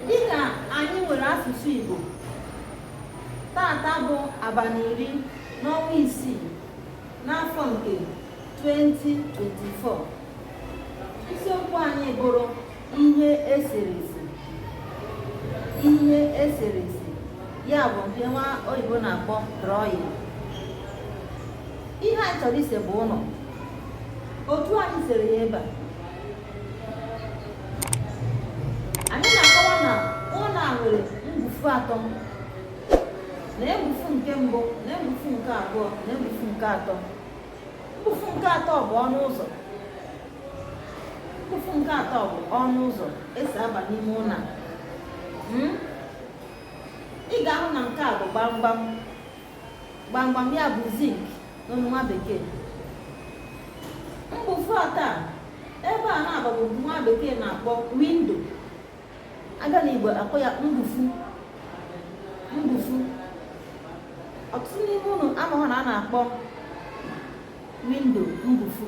dịka anyị nwere asụsụ Igbo taata bụ abalị iri n'ọnwa isii n'afọ nke 2024 isiokwu anyị bụrụ ihe eserese ihe eserese ya bụ nke nwa oyibo na-akpọ drawing ihe anyị chọrọ ise bụ ụlọ otu anyị sere ya ebe a anyị na-akọwa na ụlọ a nwere mgbufu atọ na mgbufu nke mbụ na mgbufu nke abụọ na mgbufu nke atọ mbufu nke atọ bụ ọnụ ụzọ mbufu nke atọ bụ ọnụ ụzọ esi aba n'ime ụlọ hmm? ị ga-ahụ na nke a bụ gbamgbam gbamgbam ya bụ zinc n'olu nwa bekee mbufu atọ ebe a na abụọ bụ nke nwa bekee na-akpọ window abịa na igbo akpọ ya mbufu mbufu ọtụtụ n'ime unu amaghị na a na-akpọ window mbufu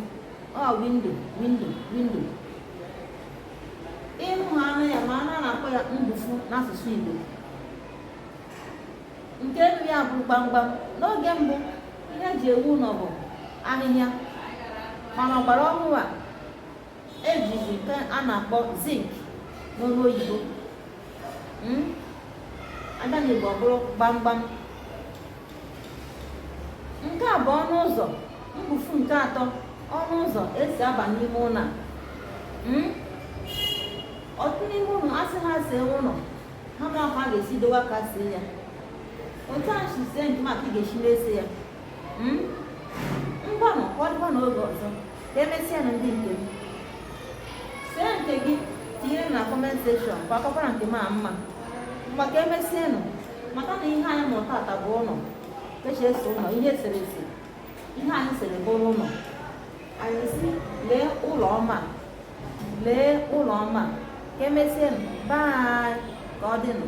ọ window window window unu na-anụ ya mana a na-akpọ ya mbufu n'asụsụ igbo nke elu ya bụ gbamgbam n'oge mbụ ihe eji ewu ụlọ bụ ahịhịa mana ọgbara ọhụrụ a ejizi nke a na-akpọ zinc n'olu oyibo hmm? abịa n'igbo ọ bụrụ gbamgbam nke a bụ ọnụ ụzọ mbufu nke atọ ọnụ ụzọ esi aba n'ime ụlọ a hmm? ọtụtụ n'ime unu asị ha see ụlọ ha amaghị ka a ga-esi dowe aka see ya otu a m si see nke m ka ị ga-esi na-ese ya hmm? ngwanụ ka ọ dịba n'oge ọzọ ka emesịanụ ndị nke m see nke gị tinye na comment section ka ọ kakwara nke m mma ngwa ka emesịanụ maka na ihe anyị mụrụ taata bụ ụlọ ka esi ese ụlọ ihe eserese ihe anyị sere bụrụ ụlọ anyị sị lee ụlọ ọma Lee ụlọ ọma. Ka emesịanụ, bye. Ka ọ dịnụ.